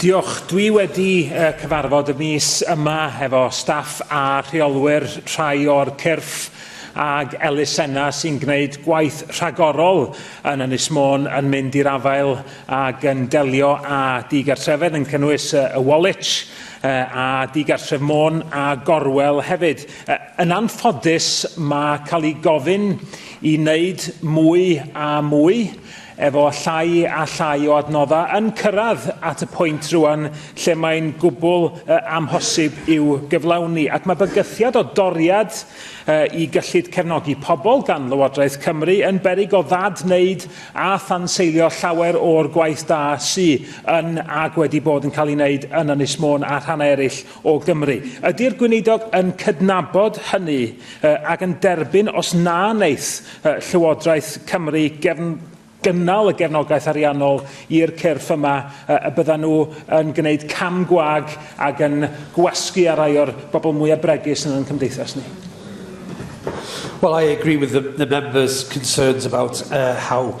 Diolch. Dwi wedi uh, cyfarfod y mis yma efo staff a rheolwyr rhai o'r cyrff ag elusenna sy'n gwneud gwaith rhagorol yn Ynys Môn yn mynd i'r afael ag yn delio â digartrefedd yn cynnwys y Woolwich a digartref Môn a Gorwel hefyd. Yn anffodus mae cael ei gofyn i wneud mwy a mwy Efo llai a llai o adnoddau yn cyrraedd at y pwynt rŵan lle mae'n gwbl amhosib i'w gyflawni, ac mae bygythiad o doriad i gyllid cefnogi pobl gan Lywodraeth Cymru yn beryg o ddad-wneud a thanseilio llawer o'r gwaith da sy' yn ac wedi bod yn cael ei wneud yn Ynys Môn a rhannau eraill o Gymru. Ydy'r Gweinidog yn cydnabod hynny ac yn derbyn os na wneith Llywodraeth Cymru gefn gynnal y gefnogaeth ariannol i'r cyrff yma y byddan nhw yn gwneud cam gwag ac yn gwasgu ar rai o'r bobl mwyaf bregus yn ein cymdeithas ni? Well, I agree with the, the members' concerns about uh, how